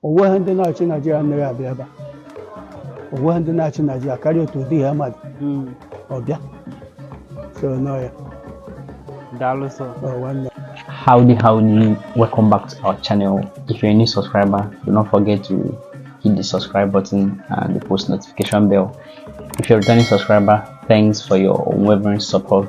onweghị ndị na-achị naijiria anaghị abịa ebe a onweghị ndị na-achị naijiria karịa otu ụdị ha mmadụ Mm. ọbịa so nọ ya Daalụ sọ. ọ nwanne Howdy, howdy, welcome back to our channel. If you're a new subscriber, do not forget to hit the subscribe button and the post notification bell. If you're a returning subscriber, thanks for your unwavering support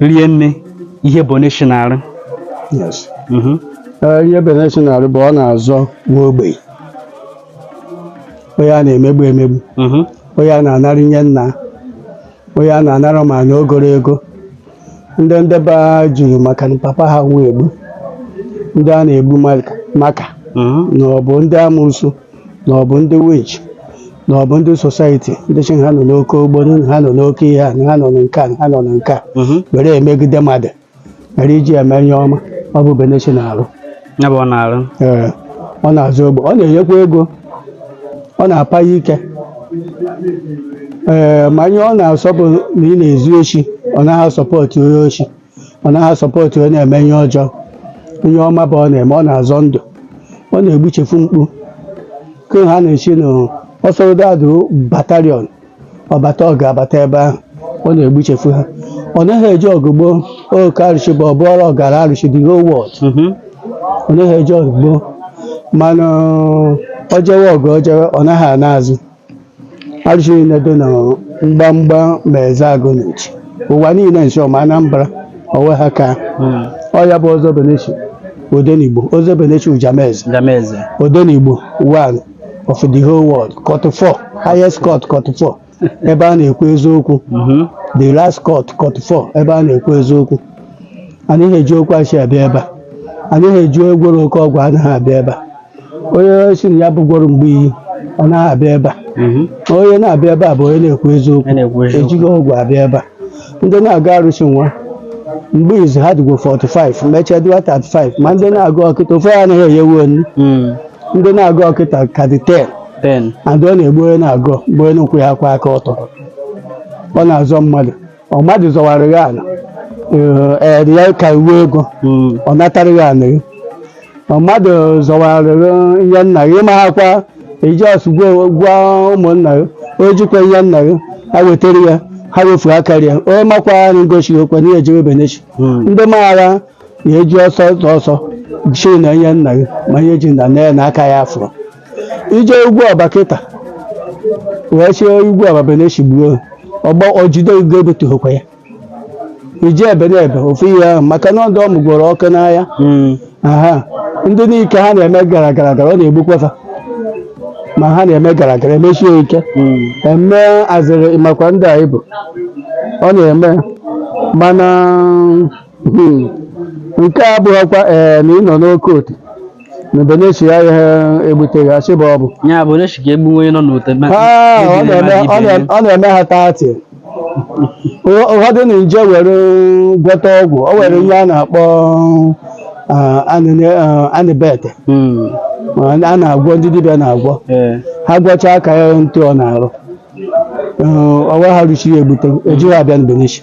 rie nne ihe benechi na-arụ yes Mhm. Ee, ihe benechi na-arụ bụ ọ na-azọ nwa ogbenye onye a na-emegbu emegbu Mhm. onye a na-anara nye nna onye a na-anara ma na ogoro ego ndị ndị be ha jụrụ maka na papa ha nwa egbu ndị a na-egbu maka- maka Mhm. na ọ bụ ndị amusu na ọ bụ ndị winch na ọ bụ ndị society ndị sị na ha nọ n'oke ogboni na ha nọ n'oke ihe a na ha nọ na nke a na ha nọ na nke a were emegide mmadụ were iji eme ihe ọma ọ bụ benechi na-arụ ya bụ ọ na-arụ ee ọ na-azọ ogbenye ọ na-enyekwa ego ọ na-apa ya ike ee ma ihe ọ na-asọ bụ na ị na-ezu oshi ọ naghị a-support onye oshi ọ naghị a-support ọ na-eme ihe ọjọọ ihe ọma bụ ọ na-eme ọ na-azọ ndụ ọ na-egbuchefu mkpu ke ha na-esi na ọsọrodadụ battalion ọ bata ọ ga-abata ebe ahụ ọ na-egbuchefu ha ọ naghị eje ọgụ gboo oke arụsị bụ ọbụọrọ ọgara arụsị the whole world Mhm. ọ naghị eje ọgụ gboo mana ọ jewe ọgụ ọ jewe ọ naghị ana azụ Arụsị niile dị na mgbamgba ma Ezeagu na-echi ụwa niile nso ma Anambra onwe ha ka ọ ya bụ ọzọ benechi odenigbo ọzọ benechi ujameze Ndameze. odenigbo one of the whole world court four highest court court four ebe a na-ekwu eziokwu Mhm. the last court court four ebe a na-ekwu eziokwu anaghị eji okwu asị abịa ebe a anaghị eji gwọrọ oke ọgwụ anaghị abịa ebe a onye sị na ya bụgworo mgbe iyi anaghị abịa ebe a Mhm. Ma onye na-abịa ebe a bụ onye na-ekwu eziokwu A na-ekwu eziokwu. ejighi ọgwụ abịa ebe a ndị na-agọ arụsị nwa mgbe izizi ha dịgwo 45 mechaa dịwa 35 ma ndị na-agọ kịta ofe ya anaghị eyewu onu Mm. ndị na-agọ kịta ka dị 10 Ten. and ọ na-egbu onye na-agọ bụ onye na-akwụghịkwa aka ọtọ ọ na-azọ mmadụ ọ mmadụ zọwara gị ala ee ee, ya ka iwe ego Mm. ọ natara gị ala gị ọ mmadụ zọwara gị ihe nna gị ma ha kwa ijos gwa ụmụnna gị o jikwa ihe nna gị ha wetara ya ha wefuru aka ya onye makwa ya na ngosi okwe na ihe ejebe benechi Mm. ndị maara na-eji ọsọ ọsọ ọsọ chi na ihe nna gị ma ihe ji na nne ya na aka ya afọ ije ugwu ọba kịta wee chie ugwu ọba Benechi gbuo ha. ọgbọ ojide ugo ebetughịkwa ya ije ebe na ebe ofu ihe ahụ maka na ọdụ ọmụ gwọrọ ọkụ n'ahịa aha ndị n'ike ha na-eme gara gara gara ọ na-egbukwa fa ma ha na-eme gara gara emechie ya ike eme azịrị makwa ndị anyị bụ ọ na-eme mana hmm, nke a abụghịkwa ee na ị nọ n'oke otu Benechi ya ihe egbuteghị achị bụ ọ bụ. ya bụ onye chika egbu onye nọ n'ute ma- Ah, ọ ejide na-eme mmadụ ọ ibe ya. na- ọ na-eme ha tati Ụfọ- ụfọdụ na-eje were gwọta ọgwụ o were ihe a na-akpọ ah, anịne- ah, anịbete Mm, ma a na-agwọ ndị dibịa na-agwọ eh, ha gwọchaa aka ya ntụ ọ na-arụ Eh, ọ wee ha ruchi ya egbute ejighị abịa n'Benechi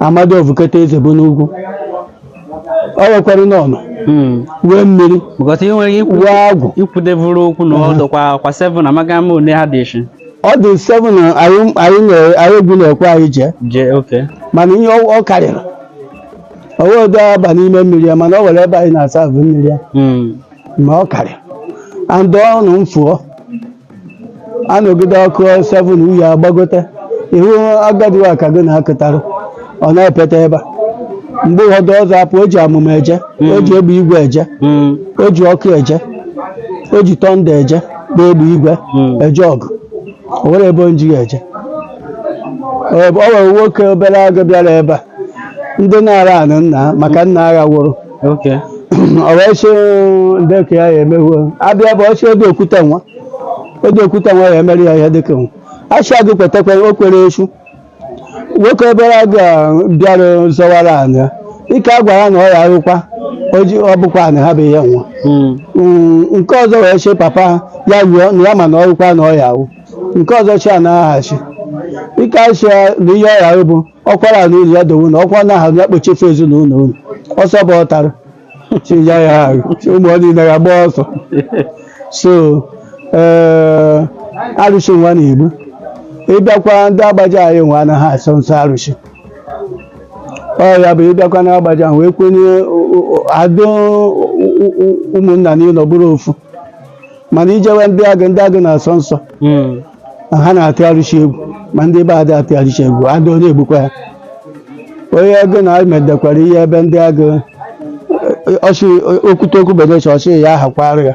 amadi ọvụketa eze bụ n'ugwu ọ wekwara n'ọnụ Mm. wee mmiri Because ị nwere ikwu wee agwụ ikwudevuru okwu na ọ dọkwa kwa 7 amaghị ama ole ha dị echi. ọ dị 7 na anyị anyị na- anyị egwu na-ekwe anyị jee Jee oke. mana ihe ọ ọ karịrị o wee odo aba n'ime mmiri ya mana ọ were ebe anyị na-asa abụ mmiri ya Mm. ma ọ karịrị and ọnụ m fụọ anọgide ọkụ 7 uyi agbagote ihu agadi wa ka gị na-akụtarụ ọ na-epeta ebe a mgbe ụfọdụ ọzọ apụ o ji amụma eje o ji egbe igwe eje o ji ọkụ eje o ji tọnda eje bụ egbe igwe eje ọgụ o nwere ebe o ji ya eje ọ ọ nwere nwoke Obeleagụ bịara ebe a ndị na-ara anụ nna ha maka nna ha wụrụ Okay. ọ wee sị ndị ka ya ya emewo abịa bụ ọsị ego okwute nwa ego okwute nwa ya emere ya ihe dịka nwa asị agụ kwetakwa o kwere sị nwoke Obeleagụ a bịara zọwara anya ike a gwara na ọ ya arụkwa o ji- ọ bụkwa na ha bụ ihe nwa Mm. Mm, nke ọzọ wee sị papa ha ya rụọ na ya ma na ọrụkwa na ọ ya awụ nke ọzọ sị a na-aghachi ike asị ya na ihe ọ ya arụ bụ ọkwara na ụzọ dowe ụlọ ọkwa na ahụ ya kpochefe ezinụlọ unu ọsọ bụ ọtara chiya ya ahụ chi ụmụ ọ niile ya gbaa ọsọ so ee arụsị nwa na-egbu ị bịakwa ndị Agbaja anyị nwa anaghị asọ nsọ arụsị ọ ya bụ ị bịakwa na Agbaja ahụ wee kwenye o- o- o- adụ ụ- ụ- ụ- ụmụnna n'ịnọ bụrụ ofu mana i jewe ndị agụ ndị agụ na-asọ nsọ Mm. ma ha na-atụgharịchi egwu ma ndị be adị atụgharịchi egwu adị onye egbukwa ya onye ego na medekwara ihe ebe ndị agụ ọchị okwute okwu benechi ọchị ya ahakwara ya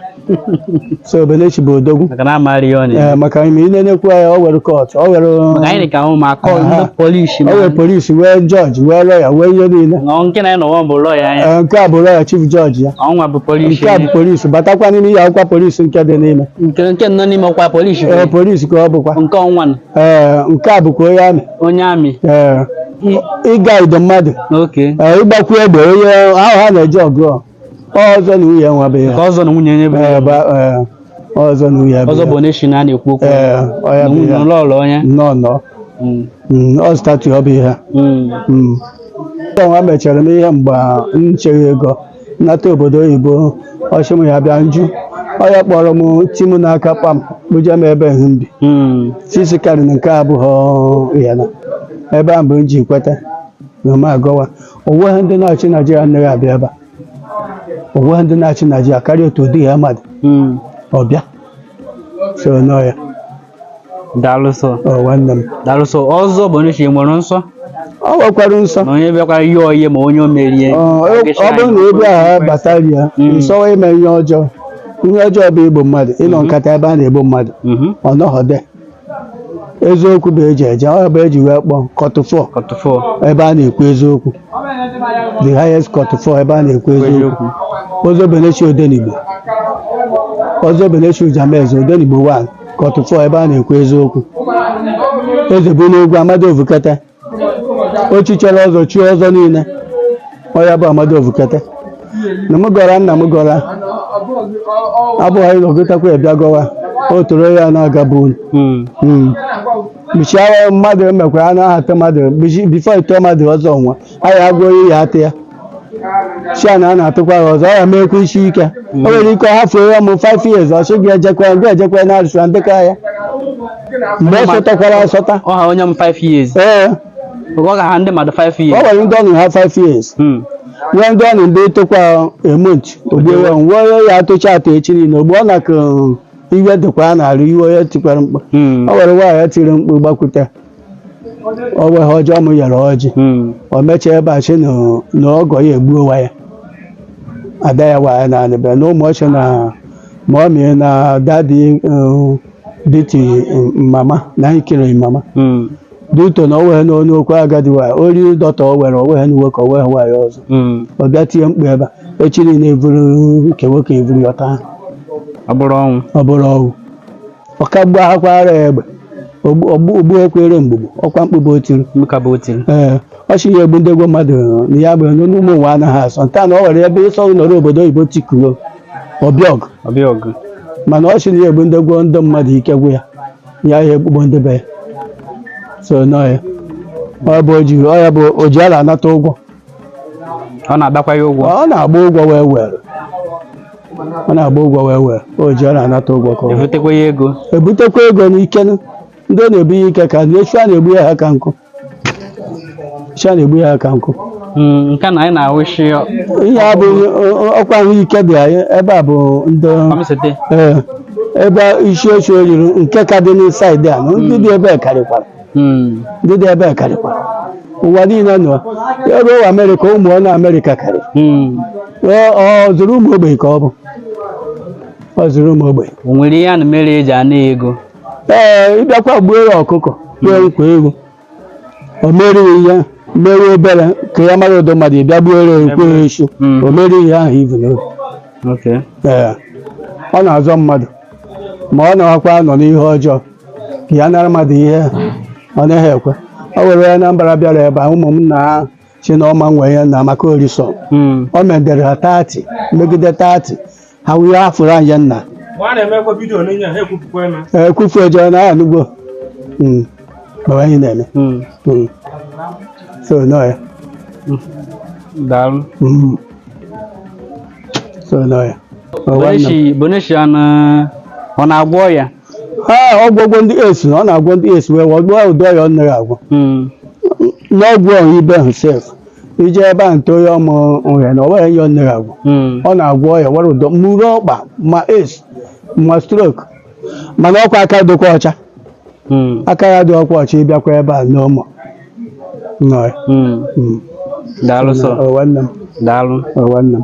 so Benechi bụ odogwu maka na ọ maara ihe ọ na-eme Ee, maka ime ị na-enekwu ya o were kọt o were maka anyị dị ka ụmụ akọ Aha. ndị polisi o were polisi wee jọji wee lọya wee ihe niile na nke na nọwa bụ lọya anyị Ee, nke a bụ lọya chief jọji ya ọnwa bụ polisi nke a bụ polisi batakwa n'ime ihe akwụkwọ polisi nke dị n'ime nke nke nọ n'ime ọkwa polisi ee polisi ka ọ bụkwa nke ọnwa nọ, ee nke a bụkwa onye amị onye amị ee igudo mmadụ oke ee ịgbakwu egbe onye ahụ ha na-eji ọgụ ọ ọzọ na nwunye nwa bụ ya ka ọzọ na nwunye onye bụ ee ba- ee, ọzọ na nwunye bụ ọzọ ya. bụ onye shi na a na-ekwu okwu ee ọ ya bụ ya n'ụlọ ọrụ onye nnọọ nnọọ Mm, Mm, ọ statu ọ bụ ihe mm. Mm. Ndị ọnwa mechara m ihe mgbe m cheghị ego m nata obodo oyibo ọ shị m ya bịa nju ọ ya kpọrọ m ti m n'aka kpam kpọje m ebe m bi Mm. sisi karị na nke abụghị ya na ebe a mgbe m ji kweta na m agọwa onweghị ndị na-achị naijiria anaghị abịa ebe a onweghị ndị na-achị naijiria karịa otu ụdị ya mmadụ Mm. ọ bịa so n'ọ ya daalụ sọọ nwanne m daalụ sọ ọzọ bụ onye chi nwere nsọ ọ nwekwara nsọ na onye bịakwara ihe oyi ma onye o merie Ọ ọ bụrụ na ebe a batara ya Mm. nsọwa ime ihe ọjọọ ihe ọjọọ bụ igbu mmadụ ịnọ nkata ebe a na-egbu mmadụ Mhm. ọ nọghọde eziokwu bụ eji eje ọ bụ eji wee kpọọ court of court of ebe a na-ekwu eziokwu the highest court of ebe a na-ekwu eziokwu eziokwu ozobenechi odenigbo ozobenechi ujameze odenigbo 1 ka ọtụtụ ebe a na-ekwu eziokwu eze bụ n'egwu amadi ovukete o chichara ọzọ chie ọzọ niile ọ ya bụ amadi ovukete na m gọra nna m gọra abụọ anyị agọtakwa a bịa gọwa o toro ya na-aga bụ unu Mm. mgbichi agha mmadụ emekwa a na-ahọta mmadụ before ite mmadụ ọzọ nwa anyị agụọ ihe ya atụ ya si a na a na-atụkwa ya ọzọ ọ ya meekwa isi ike o nwere ike ọ hafuo ya mụ 5 years ọ sị gị ejekwa ya gị ejekwa ya na-arụsị na ndekọ ya mgbe ọ sọtakwara asọta ọ ha onye m 5 years ee ọ ga ha ndị mmadụ 5 ọ years nwere ndị ọnụ ha 5 years Hmm. nwee ndị ọnụ ndị tụkwa emont ogbewe nwee ya atụcha atụ echi niile ogbe ọ na-akụ iwe dịkwa ya na-arụ iwe onye tikwara mkpa Hmm. ọ were nwaanyị ya tiri mkpu gbakwute o nweghị ọjọọ m nyere ọjị Hmm. o mechaa ebe a sị na na ọgọ ya egbuowa ya ada ya nwaanya na anịbịa na ụmụ ọchị na ma ọ mịrị na daddy um, beat um, mama na anyị kiri mama Hmm. due to na o weghị n'ọnụ okwu agadi nwaanya o riri dọta o were o nweghị nwoke o nweghị nwaanya ọzọ Hmm. ọ bịa tie mkpu ebe a echi niile eburu nke nwoke eburu ya taa ọ bụrụ ọnwụ ọ bụrụ ọgwụ ọkagbu ahakwara ya egbe ogbuekwere mgbugbu ọkwa mkpu bụ o tiri Mkpu bụ o tiri. ee ọ shị na ya egbudego mmadụ na ya bụ onye ụmụ ụwa anaghị asọ nta na ọ were ebe ịsọ nọrọ obodo oyibo tikuo ọbịọg Ọbịa ọgụ. mana ọ shị na ya egbudego ndị mmadụ ike gwụ ya ya ya egbuo ndị be ya so nọ ya ọ bụ oji ọ ya bụ o ji ala anata ụgwọ Ọ na-adakwa ya ụgwọ. ọ na-agba ụgwọ wee were ọ na-agba ụgwọ wee wee o ji ọ na-anata ụgwọ ka ọ butekwa ya ego ebutekwa ego n'ike nụ. ndị na-ebu ya ike ka ndị echi a na-egbu ya ha ka nkụ echi a na-egbu ya ha ka nkụ Mm, nke na anyị na-awụshi ihe a bụ ọkwa ahụike dị anyị ebe a bụ ndị ọmịsete ee, ebe isi oche o riri nke ka dị n'insaịdị a na ndị dị ebe a karịkwara Mm. ndị dị ebe a karịkwa ụwa niile nọ ya ruo ụwa amerịka ụmụ ọ na amerịka karị Mm. ọ ọ zụrụ ụmụ ogbenye ka ọ bụ ọ zụrụ ụmụ ogbenye O nwere ihe a na mere eji ana ya ego. ee ị bịakwa gbuo ya ọkụkọ gbuokwa ewu o meere gị ihe mee ebere ka ya mara ụdị mmadụ ị bịa gbuo ya nkwa ehi Mm. o meere gị ihe ahụ i vu n'obi Okay. ee ọ na-azọ mmadụ ma ọ na-akwa nọ n'ihe ọjọọ ya nara mmadụ ihe ọ naghị ekwe o were ya na mbara bịara ebe a ụmụ m na ha si na ọma nwee ya na maka orisọ Mm. o medere ha tati megide tati ha wee afụrụ anyị nna Mgbe a na-emekwa vidiyo n'onye ha ekwupụkwa eme. ekwufu ejọọ na ya anụgbo Mm. Mgbe anyị na-eme Mm. Mm. so nọ ya Daalụ. Mm. so nọ ya Ọ gwa nna m. Boneshi Boneshi ọ na- ọ na-agwọ ọya ee ọgwụgwọ ndị AIDS na ọ na-agwọ ndị AIDS wee wọgbuo ụdị ọya ọ naghị agwọ n'ọgwụ ọhụ ibe ahụ sef ije ebe a nte onye ọmụ ọhịa na ọwere ya ọ naghị agwọ ọ na-agwọ ọya wara ụdọ mmuru ọkpa ma AIDS ma strok mana ọkwa aka dịkwa ọcha aka ya dịkwa ọcha ị bịakwa ebe a n'ụmụ nọrị daalụ sọ nwanne m daalụ nwanne m